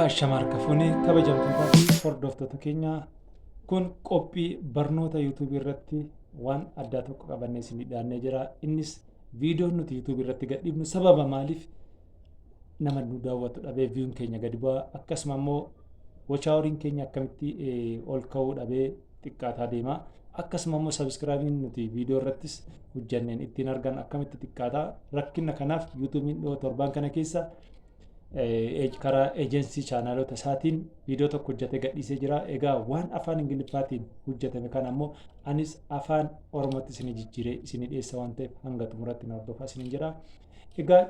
Ashama harka fuune kabajamtootaa fi hordoftoota keenya kun qophii barnoota yuutuubii irratti waan addaa tokko qabannee isin dhiyaannee jira. Innis viidiyoon nuti yuutuubii irratti gadhiifnu sababa maaliif nama nu daawwatu dhabee viyuun keenya gadi bu'a akkasuma immoo wachaaworiin keenya akkamitti ol ka'uu dhabee xiqqaataa deema. Akkasuma immoo sabiskiraabiin nuti viidiyoo irrattis hojjanneen ittiin argan akkamitti xiqqaataa rakkina kanaaf yuutuubiin dhiyoo torbaan kana keessa karaa ejensii chaanaalota isaatiin viidiyoo tokko hojjatee gadhiisee jira. Egaa waan afaan Ingiliffaatiin hojjatame kana ammoo anis afaan Oromootti isin jijjiiree isin dhiyeessa waan ta'eef hanga xumuratti na hordofaa isin jira. Egaa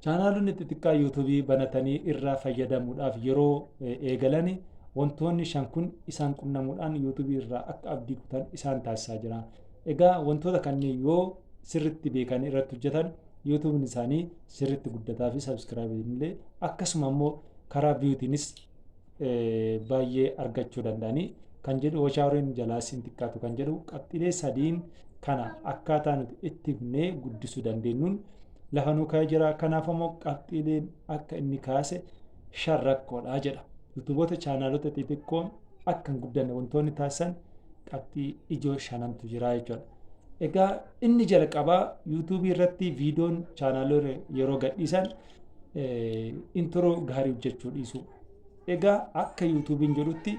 chaanaalonni xixiqqaa yuutuubii banatanii irraa fayyadamuudhaaf yeroo eegalani wantoonni shan kun isaan qunnamuudhaan yuutuubii irraa akka abdii kutan isaan taasisaa jira. Egaa wantoota kanneen yoo sirritti beekanii irratti hojjetan yuutuubin isaanii sirriitti guddataa fi sabskiraayibiin illee akkasuma immoo karaa viyuutiinis baay'ee argachuu danda'anii kan jedhu washaaworiin jalaas hin xiqqaatu kan jedhu qabxiilee sadiin kana akkaataa nuti itti himnee guddisuu dandeenyuun lafa nuu kaa'ee jira kanaaf immoo qabxiileen akka inni kaase shan rakkoodha jedha yuutuuboota chaanaalota xixiqqoon akka hin guddanne wantoonni taasisan qabxii ijoo shanantu jira jechuudha. Egaa inni jalqabaa YouTube irratti viidiyoon chaanaalota yeroo gadhiisan intiroo gaarii hojjechuu dhiisu. Egaa akka YouTube'n jedhutti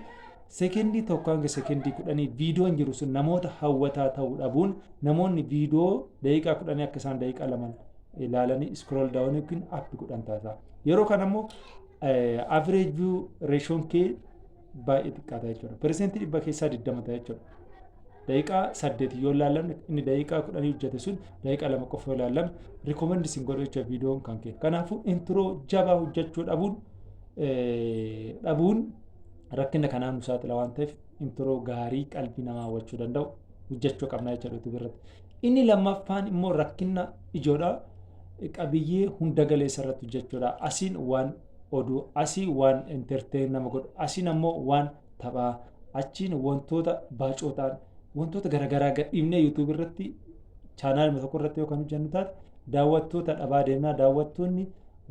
sekendii tokko hanga sekendii kudhanii viidiyoon jiru sun namoota hawwataa ta'uu dhabuun namoonni viidiyoo daqiiqaa kudhanii akka isaan daqiiqaa lama ilaalanii iskrool daawwan yookiin appi godhan taasisa. Yeroo kana immoo average view ratioon kee baay'ee xiqqaata jechuudha. Persentii dhibba keessaa 20 ta'a jechuudha. Daqiiqaa saddeet yoo ilaallamne inni daqiiqaa kudhanii hojjete sun daqiiqaa lama qofa yoo ilaallamne rikoomandi isin godhu jechuudha viidiyoon kan kee. Kanaafuu intiroo jabaa hojjechuu dhabuun dhabuun rakkina kanaan nu saaxila waan ta'eef intiroo gaarii qalbii namaa hawwachuu danda'u hojjechuu qabna jechuudha YouTube irratti. Inni lammaffaan immoo rakkina ijoodha qabiyyee hunda galeessa irratti hojjechuudha. Asiin waan oduu, asii waan entertain nama godhu, asiin ammoo waan taphaa, achiin wantoota baacoo ta'an, wantoota garaagaraa gadhiifnee YouTube irratti chaanaaluma tokko irratti yoo kan hojjennu taate daawwattoota dhabaa deemnaa daawwattoonni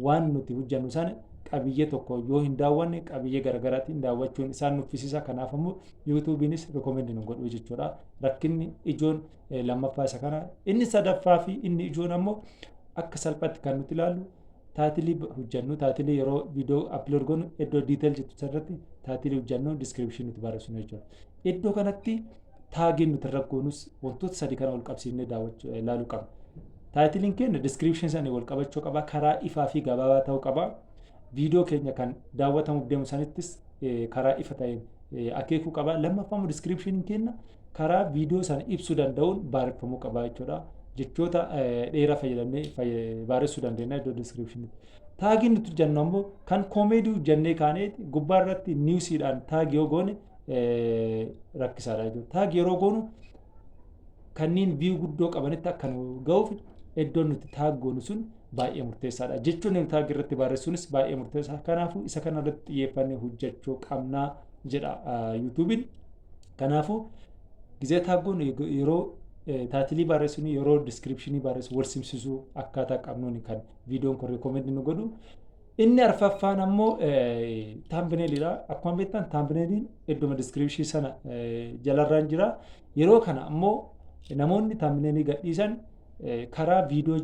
waan nuti hojjennu sana qabiyyee tokko yoo hin daawwanne qabiyyee garaagaraatiin daawwachuun isaan nuffisiisa kanaaf ammoo yuutuubiinis rikomendi nu godhuu jechuudha rakkinni ijoon lammaffaa isa kana inni sadaffaa fi inni ijoon ammoo akka salphatti kan nuti ilaallu Taatilii hojjannu taatilii yeroo viidiyoo upload goonu iddoo detail jettu sanarratti taatilii hojjannu description nuti barreessinu jechuudha. Iddoo kanatti taagiin nuti irra goonus wantoota sadii kana wal qabsiifnee daawwachuu ilaaluu qabna. Taayitiliin keenya description sanii wal qabachuu qaba. Karaa ifaa fi gabaabaa ta'uu qaba. Viidiyoo keenya kan daawwatamuuf deemu sanittis karaa ifa ta'een akeekuu qaba. Lammaffaa immoo diskiripshiniin keenya karaa viidiyoo sana ibsuu danda'uun baareffamuu qaba jechuudha. Jechoota dheeraa fayyadamnee baaressuu dandeenya iddoo diskiripshinii. Taagiin nuti jennu ammoo kan koomeedii jennee kaanee gubbaa irratti niwusiidhaan taagi yoo goone rakkisaadha jechuudha. Taagi yeroo goonu kanneen view guddoo qabanitti akka nu ga'uuf iddoon nuti taag goonu sun baay'ee murteessaadha. Jechoonni nu taag irratti barreessuunis baay'ee murteessaa. Kanaafuu isa kana irratti xiyyeeffannee hojjechuu qabnaa jedha yuutuubiin. Kanaafuu gizee taag goonu yeroo taatilii barreessinu yeroo diskiripshinii barreessu wal simsisuu akkaataa qabnuuni kan viidiyoon kun reekomendi nu godhu. Inni arfaffaan ammoo taambineeliidha. Akkuma beektan taambineeliin idduma diskiriipshii sana jalarraan jira. Yeroo kana ammoo namoonni taambineelii gadhiisan karaa viidiyoo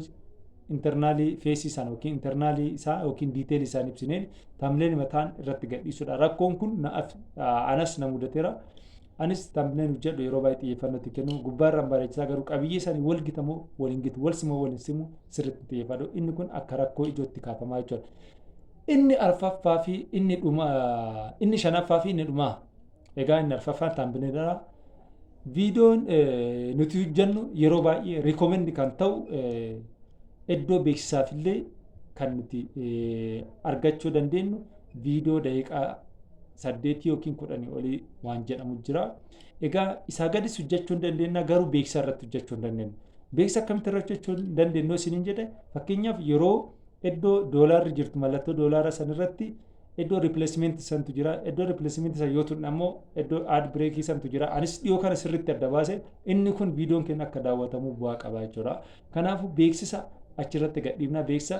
internaalii feesii sana yookiin internaalii isaa yookiin diiteelii isaan ibsineen taambineelii mataan irratti gadhiisudha. Rakkoon kun anas na mudateera. Anis thumbnail hojjedhu yeroo baay'ee xiyyeeffannoo itti kennu gubbaarraan bareechisaa garuu qabiyyee isaanii wal gita moo wal hin gitu wal simoo wal hin simu sirriitti xiyyeeffadhu inni kun akka rakkoo ijootti kaafamaa jechuudha. Inni arfaffaa fi inni dhuma inni shanaffaa fi inni dhumaa egaa inni arfaffaan taambineedha. Viidiyoon nuti hojjennu yeroo baay'ee rikomendi kan ta'u iddoo beeksisaaf illee kan nuti argachuu dandeenyu viidiyoo daqiiqaa saddeetii yookiin kudhanii olii waan jedhamu jira. Egaa isaa gadis hojjechuu hin dandeenya garuu beeksisa irratti hojjechuu hin dandeenya. Beeksisa akkamitti irratti hojjechuu hin dandeenya isiniin jedhe fakkeenyaaf yeroo iddoo doolaarri jirtu mallattoo doolaara san irratti iddoo ripileesimeenti santu jira iddoo ripileesimeenti san yoo tunne ammoo iddoo aad bireekii santu jira anis dhiyoo kana sirriitti adda baase inni kun viidiyoon keenya akka daawwatamu bu'aa qaba jechuudha. Kanaafuu beeksisa achirratti gadhiifna beeksisa